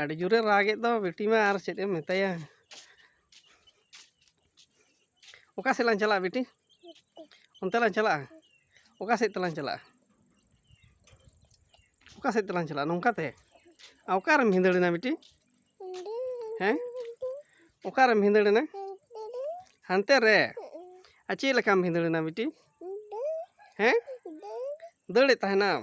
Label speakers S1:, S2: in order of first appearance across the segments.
S1: ᱟᱹᱰᱤ ᱡᱳᱨᱮ ᱨᱟᱜᱮᱫ ᱫᱚ ᱵᱤᱴᱤ ᱢᱟ ᱟᱨ ᱪᱮᱫ ᱮᱢ ᱢᱮᱛᱟᱭᱟ ᱚᱠᱟ ᱥᱮᱫ ᱞᱟᱝ ᱪᱟᱞᱟᱜᱼᱟ ᱵᱤᱴᱤ ᱚᱱᱛᱮ ᱞᱟᱝ ᱪᱟᱞᱟᱜᱼᱟ ᱚᱠᱟ ᱥᱮᱫ ᱛᱮᱞᱟᱝ ᱪᱟᱞᱟᱜᱼᱟ ᱚᱠᱟ ᱥᱮᱫ ᱛᱮᱞᱟᱝ ᱪᱟᱞᱟᱜᱼᱟ ᱱᱚᱝᱠᱟᱛᱮ ᱚᱠᱟᱨᱮᱢ ᱵᱷᱤᱸᱫᱟᱹᱲᱮᱱᱟ ᱵᱤᱴᱤ ᱦᱮᱸ ᱚᱠᱟᱨᱮᱢ ᱵᱷᱤᱸᱫᱟᱹᱲᱮᱱᱟ ᱦᱟᱱᱛᱮ ᱨᱮ ᱟᱨ ᱪᱮᱫ ᱞᱮᱠᱟᱢ ᱵᱷᱤᱸᱫᱟᱹᱲᱮᱱᱟ ᱵᱤᱴᱤ ᱦᱮᱸ ᱫᱟᱹᱲᱮᱫ ᱛᱟᱦᱮᱱᱟᱢ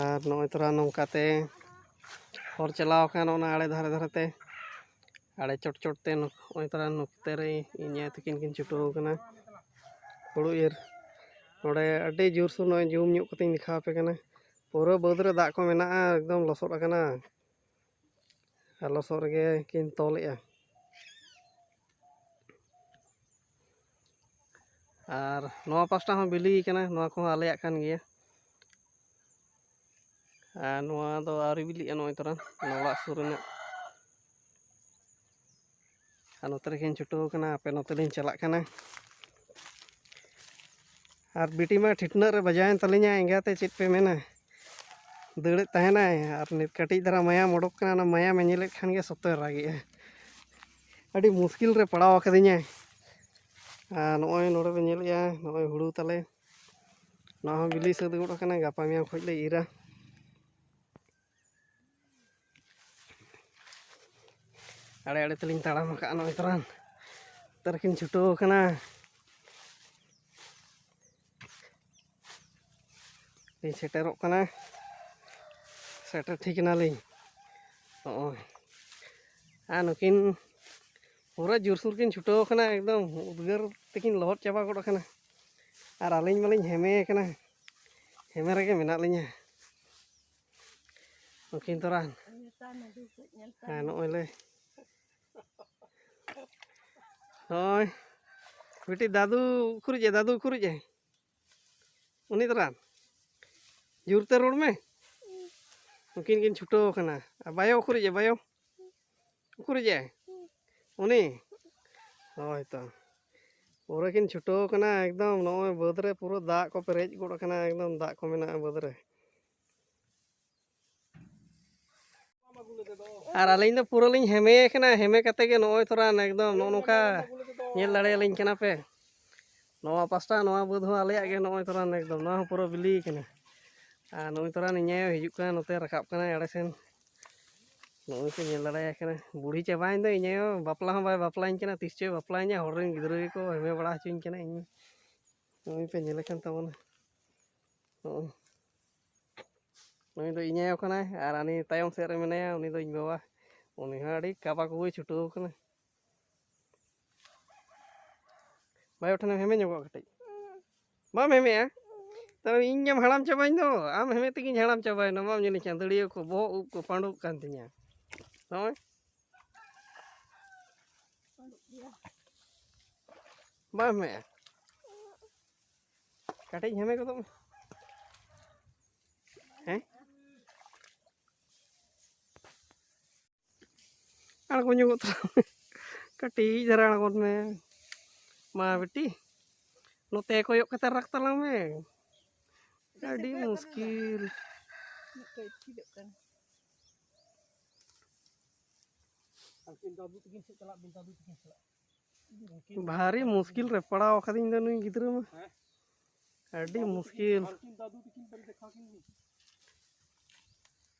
S1: ᱟᱨ ᱱᱚᱜᱼᱚᱭ ᱛᱚᱨᱟ ᱱᱚᱝᱠᱟᱛᱮ ᱦᱚᱨ ᱪᱟᱞᱟᱣ ᱟᱠᱟᱱ ᱚᱱᱟ ᱟᱲᱮ ᱫᱷᱟᱨᱮ ᱫᱷᱟᱨᱮᱛᱮ ᱟᱲᱮ ᱪᱚᱴ ᱪᱚᱴᱛᱮ ᱱᱚᱜᱼᱚᱭ ᱛᱚᱨᱟ ᱱᱚᱛᱮ ᱨᱮ ᱤᱧ ᱟᱭᱳ ᱛᱟᱹᱠᱤᱱ ᱠᱤᱱ ᱪᱷᱩᱴᱟᱹᱣ ᱟᱠᱟᱱᱟ ᱦᱩᱲᱩ ᱤᱨ ᱱᱚᱰᱮ ᱟᱹᱰᱤ ᱡᱳᱨ ᱥᱳᱨ ᱱᱚᱜᱼᱚᱭ ᱡᱩᱢ ᱧᱚᱜ ᱠᱟᱛᱮᱧ ᱫᱮᱠᱷᱟᱣ ᱟᱯᱮ ᱠᱟᱱᱟ ᱯᱩᱨᱟᱹ ᱵᱟᱹᱫᱽ ᱨᱮ ᱫᱟᱜ ᱠᱚ ᱢᱮᱱᱟᱜᱼᱟ ᱮᱠᱫᱚᱢ ᱞᱚᱥᱚᱫ ᱟᱠᱟᱱᱟ ᱟᱨ ᱞᱚᱥᱚᱫ ᱨᱮᱜᱮ ᱠᱤᱱ ᱛᱚᱞᱮᱜᱼᱟ ᱟᱨ ᱱᱚᱣᱟ ᱯᱟᱥᱴᱟ ᱦᱚᱸ ᱵᱤᱞᱤ ᱠᱟᱱᱟ ᱱᱚᱣᱟ ᱠᱚᱦᱚᱸ ᱟᱞᱮᱭᱟᱜ ᱠᱟᱱ ᱜᱮᱭᱟ ᱟᱨ ᱱᱚᱣᱟ ᱫᱚ ᱟᱹᱣᱨᱤ ᱵᱤᱞᱤᱜᱼᱟ ᱱᱚᱜᱼᱚᱭ ᱛᱚᱨᱟᱝ ᱚᱱᱟ ᱚᱲᱟᱜ ᱥᱩᱨ ᱨᱮᱱᱟᱜ ᱟᱨ ᱱᱚᱛᱮ ᱨᱮᱜᱮᱧ ᱪᱷᱩᱴᱟᱹᱣ ᱠᱟᱱᱟ ᱟᱯᱮ ᱱᱚᱛᱮ ᱞᱤᱧ ᱪᱟᱞᱟᱜ ᱠᱟᱱᱟ ᱟᱨ ᱵᱤᱴᱤ ᱢᱟ ᱴᱷᱤᱴᱱᱟᱹᱜ ᱨᱮ ᱵᱟᱡᱟᱣᱮᱱ ᱛᱟᱹᱞᱤᱧᱟ ᱮᱸᱜᱟᱛᱮ ᱪᱮᱫ ᱯᱮ ᱢᱮᱱᱟ ᱫᱟᱹᱲᱮᱫ ᱛᱟᱦᱮᱱᱟᱭ ᱟᱨ ᱱᱤᱛ ᱠᱟᱹᱴᱤᱡ ᱫᱷᱟᱨᱟ ᱢᱟᱭᱟᱢ ᱚᱰᱚᱠ ᱠᱟᱱᱟ ᱚᱱᱟ ᱢᱟᱭᱟᱢᱮ ᱧᱮᱞᱮᱫ ᱠᱷᱟᱱ ᱜᱮ ᱥᱚᱛᱚᱭ ᱨᱟᱜᱮᱜᱼᱟ ᱟᱹᱰᱤ ᱢᱩᱥᱠᱤᱞ ᱨᱮ ᱯᱟᱲᱟᱣ ᱟᱠᱟᱫᱤᱧᱟᱭ ᱟᱨ ᱱᱚᱜᱼᱚᱭ ᱱᱚᱰᱮ ᱯᱮ ᱧᱮᱞᱮᱜᱼᱟ ᱱᱚᱜᱼᱚᱭ ᱦᱩᱲᱩ ᱛᱟᱞᱮ ᱱᱚᱣᱟ ᱦᱚᱸ ᱵᱤᱞᱤ ᱥᱟᱹᱛ ᱜᱚᱫ ᱟᱠᱟᱱᱟ ᱜᱟᱯᱟ ᱢᱮᱭᱟᱝ ᱠᱷᱚᱱ ᱞᱮ ᱤᱨᱟ ᱟᱲᱮ ᱟᱲᱮ ᱛᱮᱞᱤᱧ ᱛᱟᱲᱟᱢ ᱟᱠᱟᱫᱼᱟ ᱱᱚᱜᱼᱚᱭ ᱛᱚᱨᱟᱱ ᱛᱟᱨᱠᱤᱱ ᱪᱷᱩᱴᱟᱹᱣ ᱟᱠᱟᱱᱟ ᱞᱤᱧ ᱥᱮᱴᱮᱨᱚᱜ ᱠᱟᱱᱟ ᱥᱮᱴᱮᱨ ᱴᱷᱤᱠ ᱮᱱᱟᱞᱤᱧ ᱱᱚᱜᱼᱚᱭ ᱟᱨ ᱱᱩᱠᱤᱱ ᱯᱩᱨᱟᱹ ᱡᱳᱨᱥᱳᱨ ᱠᱤᱱ ᱪᱷᱩᱴᱟᱹᱣ ᱟᱠᱟᱱᱟ ᱮᱠᱫᱚᱢ ᱩᱫᱽᱜᱟᱹᱨ ᱛᱮᱠᱤᱱ ᱞᱚᱦᱚᱫ ᱪᱟᱵᱟ ᱜᱚᱫ ᱟᱠᱟᱱᱟ ᱟᱨ ᱟᱹᱞᱤᱧ ᱢᱟᱞᱤᱧ ᱦᱮᱢᱮ ᱟᱠᱟᱱᱟ ᱦᱮᱢᱮ ᱨᱮᱜᱮ ᱢᱮᱱᱟᱜ ᱞᱤᱧᱟ ᱩᱱᱠᱤᱱ ᱛᱚᱨᱟᱱ ᱟᱨ ᱱᱚᱜᱼᱚᱭ ᱞᱮ ᱦᱳᱭ ᱢᱤᱫᱴᱤᱡ ᱫᱟᱫᱩ ᱩᱠᱩᱨᱤᱡ ᱮ ᱫᱟᱫᱩ ᱩᱠᱩᱨᱤᱡ ᱮ ᱩᱱᱤ ᱛᱚᱨᱟᱱ ᱡᱳᱨᱛᱮ ᱨᱚᱲ ᱢᱮ ᱩᱱᱠᱤᱱ ᱠᱤᱱ ᱪᱷᱩᱴᱟᱹᱣ ᱟᱠᱟᱱᱟ ᱟᱨ ᱵᱟᱭᱳ ᱩᱠᱩᱨᱤᱡ ᱮ ᱵᱟᱭᱳ ᱩᱠᱩᱨᱤᱡᱮ ᱩᱱᱤ ᱦᱳᱭ ᱛᱚ ᱯᱩᱨᱟᱹ ᱠᱤᱱ ᱪᱷᱩᱴᱟᱹᱣ ᱠᱟᱱᱟ ᱮᱠᱫᱚᱢ ᱱᱚᱜᱼᱚᱭ ᱵᱟᱹᱫᱽ ᱨᱮ ᱯᱩᱨᱟᱹ ᱫᱟᱜ ᱠᱚ ᱯᱮᱨᱮᱡ ᱜᱚᱫ ᱠᱟᱱᱟ ᱮᱠᱫᱚᱢ ᱫᱟᱜ ᱠᱚ ᱢᱮᱱᱟᱜᱼᱟ ᱵᱟᱹᱫᱽ ᱨᱮ ᱟᱨ ᱟᱹᱞᱤᱧ ᱫᱚ ᱯᱩᱨᱟᱹ ᱞᱤᱧ ᱦᱮᱢᱮ ᱠᱟᱱᱟ ᱦᱮᱢᱮ ᱠᱟᱛᱮ ᱜᱮ ᱱᱚᱜᱼᱚᱭ ᱛᱷᱚᱲᱟ ᱮᱠᱫᱚᱢ ᱱᱚᱜᱼᱚ ᱱᱚᱝᱠᱟ ᱧᱮᱞ ᱫᱟᱲᱮᱭᱟᱞᱤᱧ ᱠᱟᱱᱟ ᱯᱮ ᱱᱚᱣᱟ ᱯᱟᱥᱴᱟ ᱱᱚᱣᱟ ᱵᱟᱹᱫᱽ ᱦᱚᱸ ᱟᱞᱮᱭᱟᱜ ᱜᱮ ᱱᱚᱜᱼᱚᱭ ᱛᱷᱚᱲᱟ ᱮᱠᱫᱚᱢ ᱱᱚᱣᱟ ᱦᱚᱸ ᱯᱩᱨᱟᱹ ᱵᱤᱞᱤ ᱠᱟᱱᱟ ᱟᱨ ᱱᱚᱜᱼᱚᱭ ᱛᱷᱚᱲᱟ ᱱᱤᱧᱟᱭ ᱦᱤᱡᱩᱜ ᱠᱟᱱᱟ ᱱᱚᱛᱮ ᱨᱟᱠᱟᱵ ᱠᱟᱱᱟ ᱮᱲᱮ ᱥᱮᱱ ᱱᱚᱜᱼᱚᱭ ᱠᱚ ᱧᱮᱞ ᱫᱟᱲᱮᱭᱟᱭ ᱠᱟᱱᱟ ᱵᱩᱲᱦᱤ ᱪᱟᱵᱟᱭᱮᱱ ᱫᱚ ᱤᱧ ᱟᱭᱳ ᱵᱟᱯᱞᱟ ᱦᱚᱸ ᱵᱟᱭ ᱵᱟᱯᱞᱟᱧ ᱠᱟᱱᱟ ᱛᱤᱥ ᱪᱚᱭ ᱵᱟᱯᱞᱟᱧᱟ ᱦᱚᱲ ᱨᱮᱱ ᱜᱤᱫᱽᱨᱟᱹ ᱜᱮᱠᱚ ᱦᱮᱢᱮ ᱵᱟᱲᱟ ᱦᱚᱪᱚᱧ ᱠᱟᱱᱟ ᱤᱧ ᱱᱚᱜᱼᱚᱭ ᱯᱮ ᱧᱮᱞᱮ ᱠᱟᱱ ᱛᱟᱵᱚᱱᱟ ᱱᱚᱜᱼᱚᱭ ᱱᱩᱭ ᱫᱚ ᱤᱧ ᱟᱭᱳ ᱠᱟᱱᱟᱭ ᱟᱨ ᱦᱟᱹᱱᱤ ᱛᱟᱭᱚᱢ ᱥᱮᱫ ᱨᱮ ᱢᱮᱱᱟᱭᱟ ᱩᱱᱤ ᱫᱚ ᱤᱧ ᱵᱟᱵᱟ ᱩᱱᱤ ᱦᱚᱸ ᱟᱹᱰᱤ ᱠᱟᱵᱟ ᱠᱚᱵᱩᱭ ᱪᱷᱩᱴᱟᱹᱣ ᱠᱟᱱᱟ ᱵᱟᱭ ᱴᱷᱮᱱ ᱦᱮᱢᱮ ᱧᱚᱜᱚᱜ ᱠᱟᱹᱴᱤᱡ ᱵᱟᱢ ᱦᱮᱢᱮᱜᱼᱟ ᱛᱟᱦᱚᱞᱮ ᱤᱧ ᱜᱮᱢ ᱦᱟᱲᱟᱢ ᱪᱟᱵᱟᱧ ᱫᱚ ᱟᱢ ᱦᱮᱢᱮ ᱛᱮᱜᱮᱧ ᱦᱟᱲᱟᱢ ᱪᱟᱵᱟᱭᱮᱱᱟ ᱵᱟᱢ ᱧᱮᱞᱤᱧ ᱪᱟᱸᱫᱟᱹᱲᱤᱭᱟᱹ ᱠᱚ ᱵᱚᱦᱚᱜ ᱩᱵ ᱠᱚ ᱯᱟᱸᱰᱩᱜ ᱠᱟᱱ ᱛᱤᱧᱟ ᱱᱚᱜᱼᱚᱭ ᱵᱟᱢ ᱦᱮᱢᱮᱜᱼᱟ ᱠᱟᱹᱴᱤᱡ ᱦᱮᱢᱮ ᱜᱚᱫᱚᱜ ᱢᱮ ᱟᱬᱜᱚ ᱧᱚᱜᱚᱜ ᱛᱟᱞᱟᱝ ᱢᱮ ᱠᱟᱹᱴᱤᱡ ᱫᱷᱟᱨᱟ ᱟᱬᱜᱚᱱ ᱢᱮ ᱢᱟ ᱵᱤᱴᱤ ᱱᱚᱛᱮ ᱠᱚᱭᱚᱜ ᱠᱟᱛᱮ ᱨᱟᱜ ᱛᱟᱞᱟᱝ ᱢᱮ ᱟᱹᱰᱤ ᱢᱩᱥᱠᱤᱞ ᱵᱷᱟᱨᱤ ᱢᱩᱥᱠᱤᱞ ᱨᱮ ᱯᱟᱲᱟᱣ ᱟᱠᱟᱫᱤᱧ ᱫᱚ ᱱᱩᱭ ᱜᱤᱫᱽᱨᱟᱹ ᱢᱟ ᱟᱹᱰᱤ ᱢᱩᱥᱠᱤᱞ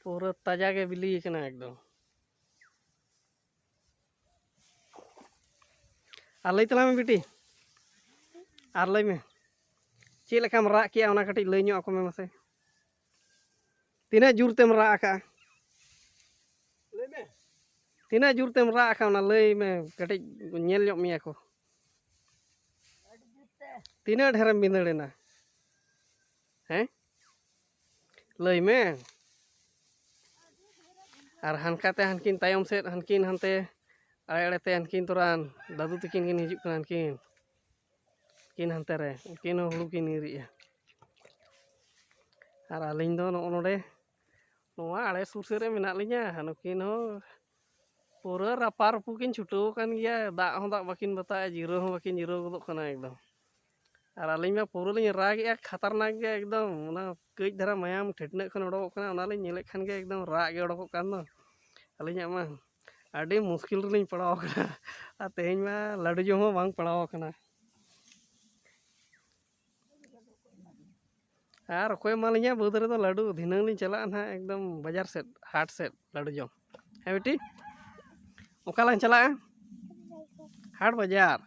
S1: ᱯᱩᱨᱟᱹ ᱛᱟᱡᱟ ᱜᱮ ᱵᱤᱞᱤ ᱠᱟᱱᱟ ᱮᱠᱫᱚᱢ ᱟᱨ ᱞᱟᱹᱭ ᱛᱟᱞᱟᱝ ᱢᱮ ᱵᱤᱴᱤ ᱟᱨ ᱞᱟᱹᱭ ᱢᱮ ᱪᱮᱫ ᱞᱮᱠᱟᱢ ᱨᱟᱜ ᱠᱮᱜᱼᱟ ᱚᱱᱟ ᱠᱟᱹᱴᱤᱡ ᱞᱟᱹᱭ ᱧᱚᱜ ᱟᱠᱚ ᱢᱮ ᱢᱟᱥᱮ ᱛᱤᱱᱟᱹᱜ ᱡᱳᱨ ᱛᱮᱢ ᱨᱟᱜ ᱟᱠᱟᱜᱼᱟ ᱞᱟᱹᱭ ᱢᱮ ᱛᱤᱱᱟᱹᱜ ᱡᱳᱨ ᱛᱮᱢ ᱨᱟᱜ ᱟᱠᱟᱜᱼᱟ ᱚᱱᱟ ᱞᱟᱹᱭ ᱢᱮ ᱠᱟᱹᱴᱤᱡ ᱧᱮᱞ ᱧᱚᱜ ᱢᱮᱭᱟ ᱠᱚ ᱛᱤᱱᱟᱹᱜ ᱰᱷᱮᱨᱮᱢ ᱵᱤᱸᱫᱟᱹᱲᱮᱱᱟ ᱦᱮᱸ ᱞᱟᱹᱭ ᱢᱮ ᱟᱨ ᱦᱟᱱᱠᱟᱛᱮ ᱦᱟᱱᱠᱤᱱ ᱛᱟᱭᱚᱢ ᱥᱮᱫ ᱦᱟᱱᱠᱤᱱ ᱦᱟᱱᱛᱮ ᱟᱲᱮ ᱟᱲᱮᱛᱮ ᱦᱟᱱᱠᱤᱱ ᱛᱚᱨᱟᱱ ᱫᱟᱫᱩ ᱛᱟᱹᱠᱤᱱ ᱠᱤᱱ ᱦᱤᱡᱩᱜ ᱠᱟᱱᱟ ᱦᱟᱱᱠᱤᱱ ᱩᱱᱠᱤᱱ ᱦᱟᱱᱛᱮ ᱨᱮ ᱩᱱᱠᱤᱱ ᱦᱚᱸ ᱦᱩᱲᱩ ᱠᱤᱱ ᱤᱨᱮᱜᱼᱟ ᱟᱨ ᱟᱹᱞᱤᱧ ᱫᱚ ᱱᱚᱜᱼᱚ ᱱᱚᱰᱮ ᱱᱚᱣᱟ ᱟᱲᱮ ᱥᱩᱨ ᱥᱮᱫ ᱨᱮ ᱢᱮᱱᱟᱜ ᱞᱤᱧᱟᱹ ᱱᱩᱠᱤᱱ ᱦᱚᱸ ᱯᱩᱨᱟᱹ ᱨᱟᱯᱟ ᱨᱩᱯᱩ ᱠᱤᱱ ᱪᱷᱩᱴᱟᱹᱣ ᱟᱠᱟᱱ ᱜᱮᱭᱟ ᱫᱟᱜ ᱦᱚᱸ ᱫᱟᱜ ᱵᱟᱹᱠᱤᱱ ᱵᱟᱛᱟᱜᱼᱟ ᱡᱤᱨᱟᱹᱣ ᱦᱚᱸ ᱵᱟᱹᱠᱤᱱ ᱡᱤᱨᱟᱹᱣ ᱜᱚᱫᱚᱜ ᱠᱟᱱᱟ ᱮᱠᱫᱚᱢ ᱟᱨ ᱟᱹᱞᱤᱧ ᱢᱟ ᱯᱩᱨᱟᱹ ᱞᱤᱧ ᱨᱟᱜᱮᱜᱼᱟ ᱠᱷᱟᱛᱟᱨᱱᱟᱠ ᱜᱮ ᱮᱠᱫᱚᱢ ᱚᱱᱟ ᱠᱟᱹᱡ ᱫᱷᱟᱨᱟ ᱢᱟᱭᱟᱢ ᱴᱷᱮᱴᱱᱟᱹᱜ ᱠᱷᱚᱱ ᱚᱰᱚᱠᱚᱜ ᱠᱟᱱᱟ ᱚᱱᱟᱞᱤᱧ ᱧᱮᱞᱮᱫ ᱠᱷᱟᱱ ᱜᱮ ᱮᱠᱫᱚᱢ ᱨᱟᱜ ᱜᱮ ᱚᱰᱚᱠᱚᱜ ᱠᱟᱱ ᱫᱚ ᱟᱹᱞᱤᱧᱟᱜ ᱢᱟ ᱟᱹᱰᱤ ᱢᱩᱥᱠᱤᱞ ᱨᱮᱞᱤᱧ ᱯᱟᱲᱟᱣ ᱠᱟᱱᱟ ᱟᱨ ᱛᱮᱦᱮᱧ ᱢᱟ ᱞᱟᱹᱰᱩ ᱡᱚᱢ ᱦᱚᱸ ᱵᱟᱝ ᱯᱟᱲᱟᱣ ᱠᱟᱱᱟ ᱟᱨ ᱚᱠᱚᱭ ᱮᱢᱟᱞᱤᱧᱟ ᱵᱟᱹᱫᱽ ᱨᱮᱫᱚ ᱞᱟᱹᱰᱩ ᱫᱷᱤᱱᱟᱹᱝ ᱞᱤᱧ ᱪᱟᱞᱟᱜᱼᱟ ᱱᱟᱦᱟᱜ ᱮᱠᱫᱚᱢ ᱵᱟᱡᱟᱨ ᱥᱮᱫ ᱦᱟᱴ ᱥᱮᱫ ᱞᱟᱹᱰᱩ ᱡᱚᱢ ᱦᱮᱸ ᱵᱤᱴᱤ ᱚᱠᱟ ᱞᱟᱝ ᱪᱟᱞᱟᱜᱼᱟ ᱦᱟᱴ ᱵᱟᱡᱟᱨ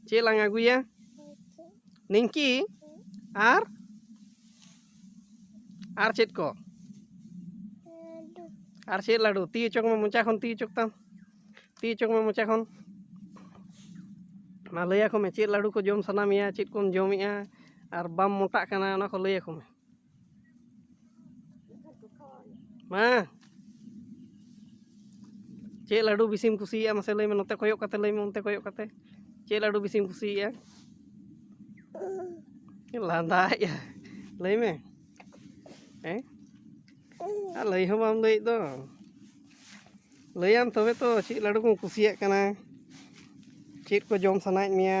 S1: ᱪᱮᱫ ᱞᱟᱝ ᱟᱹᱜᱩᱭᱟ ᱱᱤᱝᱠᱤ ᱟᱨ ᱟᱨ ᱪᱮᱫ ᱠᱚ ᱟᱨ ᱪᱮᱫ ᱞᱟᱹᱰᱩ ᱛᱤ ᱚᱪᱚᱜ ᱢᱮ ᱢᱚᱪᱟ ᱠᱷᱚᱱ ᱛᱤ ᱚᱪᱚᱜ ᱛᱟᱢ ᱛᱤ ᱚᱪᱚᱜ ᱢᱮ ᱢᱚᱪᱟ ᱠᱷᱚᱱ ᱢᱟ ᱞᱟᱹᱭᱟᱠᱚ ᱢᱮ ᱪᱮᱫ ᱞᱟᱹᱰᱩ ᱠᱚ ᱡᱚᱢ ᱥᱟᱱᱟ ᱢᱮᱭᱟ ᱪᱮᱫ ᱠᱚᱢ ᱡᱚᱢᱮᱜᱼᱟ ᱟᱨ ᱵᱟᱢ ᱢᱚᱴᱟᱜ ᱠᱟᱱᱟ ᱚᱱᱟ ᱠᱚ ᱞᱟᱹᱭᱟᱠᱚ ᱢᱮ ᱢᱟ ᱪᱮᱫ ᱞᱟᱹᱰᱩ ᱵᱤᱥᱤᱢ ᱠᱩᱥᱤᱭᱟᱜᱼᱟ ᱢᱟᱥᱮ ᱞᱟᱹᱭ ᱢᱮ ᱱᱚᱛᱮ ᱠᱚᱭᱚᱜ ᱠᱟᱛᱮ ᱞᱟᱹᱭ ᱢᱮ ᱚᱱᱛᱮ ᱠᱚᱭᱚᱜ ᱠᱟᱛᱮ ᱪᱮᱫ ᱞᱟᱹᱰᱩ ᱵᱤᱥᱤᱢ ᱠᱩᱥᱤᱭᱟᱜᱼᱟ ᱞᱟᱸᱫᱟᱭᱮᱜᱼᱟ ᱞᱟᱹᱭ ᱢᱮ ᱦᱮᱸ ᱟᱨ ᱞᱟᱹᱭ ᱦᱚᱸ ᱵᱟᱢ ᱞᱟᱹᱭᱮᱫ ᱫᱚ ᱞᱟᱹᱭᱟᱢ ᱛᱚᱵᱮ ᱛᱚ ᱪᱮᱫ ᱞᱟᱹᱰᱩ ᱠᱚᱢ ᱠᱩᱥᱤᱭᱟᱜ ᱠᱟᱱᱟ ᱪᱮᱫ ᱠᱚ ᱡᱚᱢ ᱥᱟᱱᱟᱭᱮᱫ ᱢᱮᱭᱟ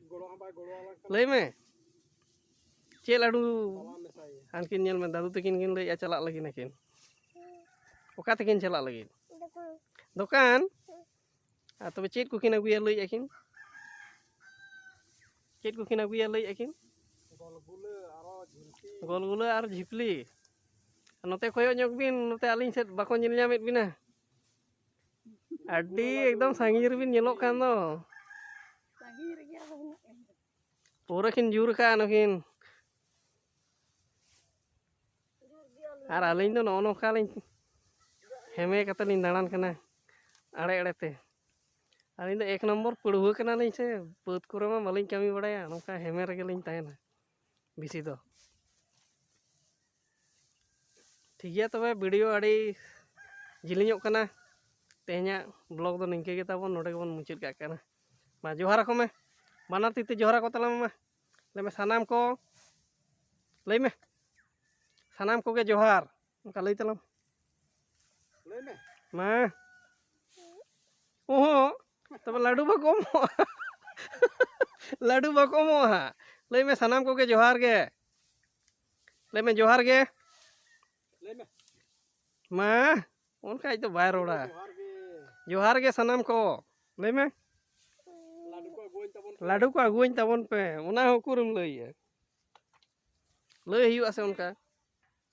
S1: ᱞᱟᱹᱭ ᱢᱮ ᱪᱮᱫ ᱞᱟᱹᱰᱩ ᱟᱱᱠᱤᱱ ᱧᱮᱞ ᱢᱮ ᱫᱟᱫᱩ ᱛᱟᱹᱠᱤᱱ ᱠᱤᱱ ᱞᱟᱹᱭᱮᱫᱼᱟ ᱪᱟᱞᱟᱜ ᱞᱟᱹᱜᱤᱫ ᱟᱹᱠᱤᱱ ᱚᱠᱟ ᱛᱮᱠᱤᱱ ᱪᱟᱞᱟᱜ ᱞᱟᱹᱜᱤᱫ ᱫᱚᱠᱟᱱ ᱟᱨ ᱛᱚᱵᱮ ᱪᱮᱫ ᱠᱚᱠᱤᱱ ᱟᱹᱜᱩᱭᱟ ᱞᱟᱹᱭᱮᱫᱼᱟ ᱠᱤᱱ ᱪᱮᱫ ᱠᱚᱠᱤᱱ ᱟᱹᱜᱩᱭᱟ ᱞᱟᱹᱭᱮᱫᱼᱟ ᱠᱤᱱ ᱜᱚᱞᱜᱩᱞᱟᱹ ᱟᱨ ᱡᱷᱤᱯᱞᱤ ᱱᱚᱛᱮ ᱠᱚᱭᱚᱜ ᱧᱚᱜ ᱵᱤᱱ ᱱᱚᱛᱮ ᱟᱹᱞᱤᱧ ᱥᱮᱫ ᱵᱟᱠᱚ ᱧᱮᱞ ᱧᱟᱢᱮᱫ ᱵᱤᱱᱟ ᱟᱹᱰᱤ ᱮᱠᱫᱚᱢ ᱥᱟᱺᱜᱤᱧ ᱨᱮᱵᱤᱱ ᱧᱮᱞᱚᱜ ᱠᱟᱱ ᱫᱚ ᱥᱟᱺᱜᱤᱧ ᱨᱮᱜᱮ ᱟᱫᱚ ᱢᱮᱱᱟᱜ ᱞᱤᱧᱟ ᱯᱩᱨᱟᱹ ᱠᱤᱱ ᱡᱩᱨ ᱠᱟᱜᱼᱟ ᱱᱩᱠᱤᱱ ᱟᱨ ᱟᱹᱞᱤᱧ ᱫᱚ ᱱᱚᱜᱼᱚ ᱱᱚᱝᱠᱟ ᱞᱤᱧ ᱦᱮᱢᱮ ᱠᱟᱛᱮ ᱞᱤᱧ ᱫᱟᱬᱟᱱ ᱠᱟᱱᱟ ᱟᱲᱮ ᱟᱲᱮ ᱛᱮ ᱟᱹᱞᱤᱧ ᱫᱚ ᱮᱠ ᱱᱚᱢᱵᱚᱨ ᱯᱟᱹᱲᱦᱩᱣᱟᱹ ᱠᱟᱱᱟᱞᱤᱧ ᱥᱮ ᱵᱟᱹᱫᱽ ᱠᱚᱨᱮ ᱢᱟ ᱵᱟᱹᱞᱤᱧ ᱠᱟᱹᱢᱤ ᱵᱟᱲᱟᱭᱟ ᱱᱚᱝᱠᱟ ᱦᱮᱢᱮ ᱨᱮᱜᱮ ᱞᱤᱧ ᱛᱟᱦᱮᱱᱟ ᱵᱮᱥᱤ ᱫᱚ ᱴᱷᱤᱠ ᱜᱮᱭᱟ ᱛᱚᱵᱮ ᱵᱷᱤᱰᱤᱭᱳ ᱟᱹᱰᱤ ᱡᱤᱞᱤᱧᱚᱜ ᱠᱟᱱᱟ ᱛᱮᱦᱮᱧᱟᱜ ᱵᱞᱚᱜ ᱫᱚ ᱱᱤᱝᱠᱟᱹ ᱜᱮ ᱛᱟᱵᱚᱱ ᱱᱚᱰᱮ ᱜᱮᱵᱚᱱ ᱢᱩᱪᱟᱹᱫ ᱠᱟᱜ ᱠᱟᱱᱟ ᱢᱟ ᱡᱚᱦᱟᱨ ᱟᱠᱚ ᱢᱮ ᱵᱟᱱᱟᱨ ᱛᱤ ᱛᱮ ᱡᱚᱦᱟᱨ ᱟᱠᱚ ᱛᱟᱞᱟᱝ ᱢᱟ ᱞᱟᱹᱭ ᱢᱮ ᱥᱟᱱᱟᱢ ᱠᱚ ᱞᱟᱹᱭ ᱢᱮ ᱥᱟᱱᱟᱢ ᱠᱚᱜᱮ ᱡᱚᱦᱟᱨ ᱚᱱᱠᱟ ᱞᱟᱹᱭ ᱛᱟᱞᱟᱝ ᱞᱟᱹᱭ ᱢᱮ ᱢᱟ ᱚᱦᱚᱸ ᱛᱚᱵᱮ ᱞᱟᱹᱰᱩ ᱵᱟᱠᱚ ᱮᱢᱚᱜᱼᱟ ᱞᱟᱹᱰᱩ ᱵᱟᱠᱚ ᱮᱢᱚᱜᱼᱟ ᱦᱟᱸᱜ ᱞᱟᱹᱭ ᱢᱮ ᱥᱟᱱᱟᱢ ᱠᱚᱜᱮ ᱡᱚᱦᱟᱨ ᱜᱮ ᱞᱟᱹᱭ ᱢᱮ ᱡᱚᱦᱟᱨ ᱜᱮ ᱞᱟᱹᱭ ᱢᱮ ᱢᱟ ᱚᱱᱠᱟ ᱟᱡ ᱫᱚ ᱵᱟᱭ ᱨᱚᱲᱟ ᱡᱚᱦᱟᱨ ᱜᱮ ᱡᱚᱦᱟᱨ ᱜᱮ ᱥᱟᱱᱟᱢ ᱠᱚ ᱞᱟᱹᱭ ᱢᱮ ᱞᱟᱹᱰᱩ ᱠᱚ ᱟᱹᱜᱩᱣᱟᱹᱧ ᱛᱟᱵᱚᱱ ᱯᱮ᱾ ᱞᱟᱹᱰᱩ ᱠᱚ ᱟᱹᱜᱩᱣᱟᱹᱧ ᱛᱟᱵᱚᱱ ᱯᱮ ᱚᱱᱟ ᱦᱚᱸ ᱩᱠᱩᱨᱮᱢ ᱞᱟᱹᱭᱟ ᱞᱟᱹᱭ ᱦᱩᱭᱩᱜᱼᱟ ᱥᱮ ᱚᱱᱠᱟ